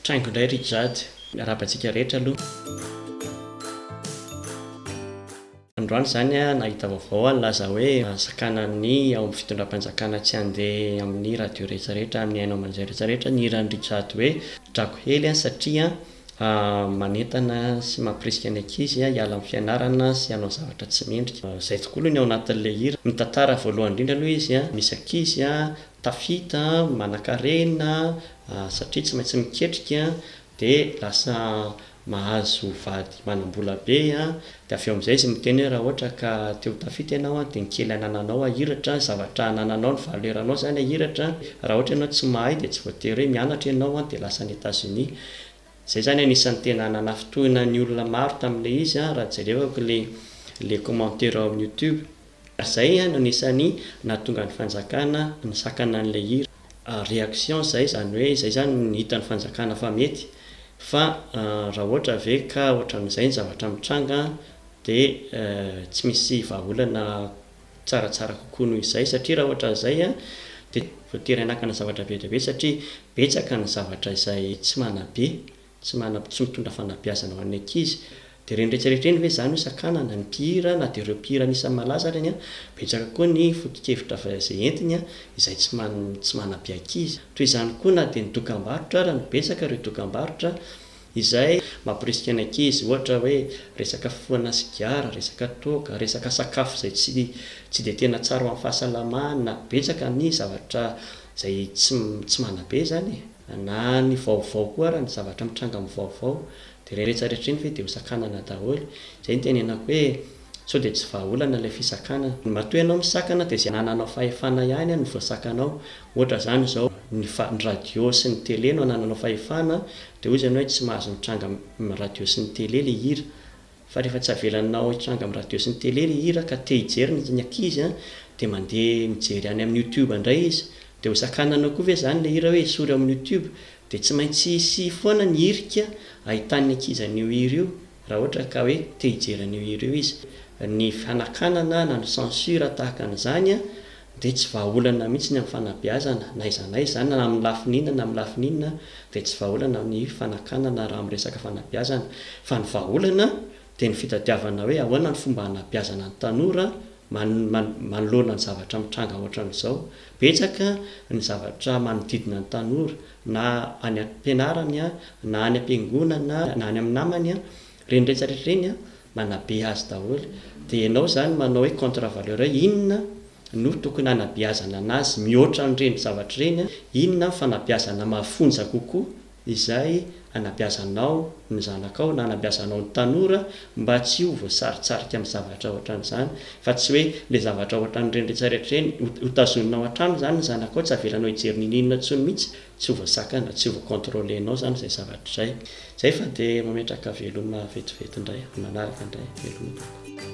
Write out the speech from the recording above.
Traingo indray ry Jade. Miarahaba antsika rehetra aloha. Androany izany aho nahita vaovao aho nilaza hoe sakanan'ny ao amin'ny fitondram-panjakana tsy handeha amin'ny radio rehetra rehetra, amin'ny haino aman-jay rehetra rehetra ny hiran'i ry Jade hoe Drakohely satria A Manentana sy mampirisika ny ankizy hiala amin'ny fianarana sy hanao zavatra tsy mendrika. Izay tokoa aloha ny ao anatin'ilay hira. Ny tantara voalohany indrindra aloha izy, misy ankizy tafita, manankarena satria tsy maintsy miketrika dia lasa mahazo vady manam-bola be Dia avy eo amin'izay izy miteny hoe raha ohatra ka te ho tafita ianao dia ny kely anananao ahiratra, zavatra anananao ny valeur-nao izany ahiratra, raha ohatra ianao tsy mahay dia tsy voatery hoe mianatra ianao dia lasa any Etazonia. Izay izany anisan'ny tena nanafintohina ny olona maro tamin'ilay izy raha jerevako ilay commentaire ao amin'ny youtube. Ary izay no anisan'ny nahatonga ny fanjakana nisakana an'ilay hira. Réaction izay, izany hoe izay izany no hitan'ny fanjakana fa mety, fa raha ohatra ve ka ohatran'izay ny zavatra mitranga dia tsy misy vahaolana tsaratsara kokoa noho izay satria raha ohatran'izay dia voatery hanakana zavatra be dia be satria betsaka ny zavatra izay tsy manabe Tsy manam, tsy mitondra fanabeazana ho an'ny ankizy. Dia ireny rehetra rehetra ireny ve izany no sakanana? Ny mpihira na dia ireo mpihira anisan'ny malaza ary anie, betsaka koa ny foto-kevitra avy izay entiny izay tsy man, tsy manabe ankizy. Toy izany koa na dia ny dokambarotra ary, no betsaka ireo dokambarotra izay. Mamporisika ny ankizy. Ohatra hoe resaka fifohana sigara, resaka toaka, resaka sakafo izay tsy, tsy dia tena tsara ho an'ny fahasalamana. Betsaka ny zavatra izay tsy, tsy manabe izany e. Na ny vaovao koa ary ny zavatra mitranga amin'ny vaovao dia ireny rehetra rehetra ireny ve dia hosakanana daholo? Izay no itenenako hoe sao dia tsy vahaolana ilay fisakanana. Matoa ianao misakana dia izay anananao fahefana ihany no voasakanao. Ohatra izany izao, ny fa ny radio sy ny tele no anananao fahefana dia hoy izy ianao hoe tsy mahazo mitranga amin'ny radio sy ny tele ilay hira. fa rehefa tsy avelanao hitranga amin'ny radio sy ny tele ilay hira ka te hijery ny ny ankizy an, dia mandeha mijery any amin'ny youtube indray izy, dia ho sakananao koa ve izany ilay hira hoe esory ao amin'ny youtube, dia tsy maintsy hisy foana ny hirika ahitan'ny ankizy an'io hira io raha ohatra ka hoe te hijery an'io hira io izy, ny fanakanana na ny censure tahaka an'izany an, dia tsy vahaolana mihitsy ny amin'ny fanabeazana na aiza na aiza izany na amin'ny lafiny inona na amin'ny lafiny inona dia tsy vahaolana ny fanakanana raha miresaka fanabeazana fa ny vahaolana dia ny fitadiavana hoe ahoana ny fomba hanabeazana ny tanora manoloana ny zavatra mitranga ohatran'izao betsaka ny zavatra manodidina ny tanora na any am-pianarany na any am-piangonana na any amin'ny namany Reny rehetra rehetra reny an, manabe azy daholo. Dia ianao izany manao hoe contre valeur hoe inona no tokony hanabeazana an'azy mihoatra an'ireny zavatra ireny an, inona ny fanabeazana mafonja kokoa izay anabeazanao ny zanakao na anabeazanao ny tanora mba tsy ho voasaritsarika amin'ny zavatra ohatran'izany fa tsy hoe ilay zavatra ohatran'ireny rehetra rehetra ireny ho tazoninao hatrany izany ny zanakao tsy avelanao hijery ninoninona intsony mihitsy tsy voasakana, tsy voacontrolenao izany izay zavatra izay. Izay fa dia mametraka veloma vetivety indray amin'ny manaraka indray. Veloma tompoko.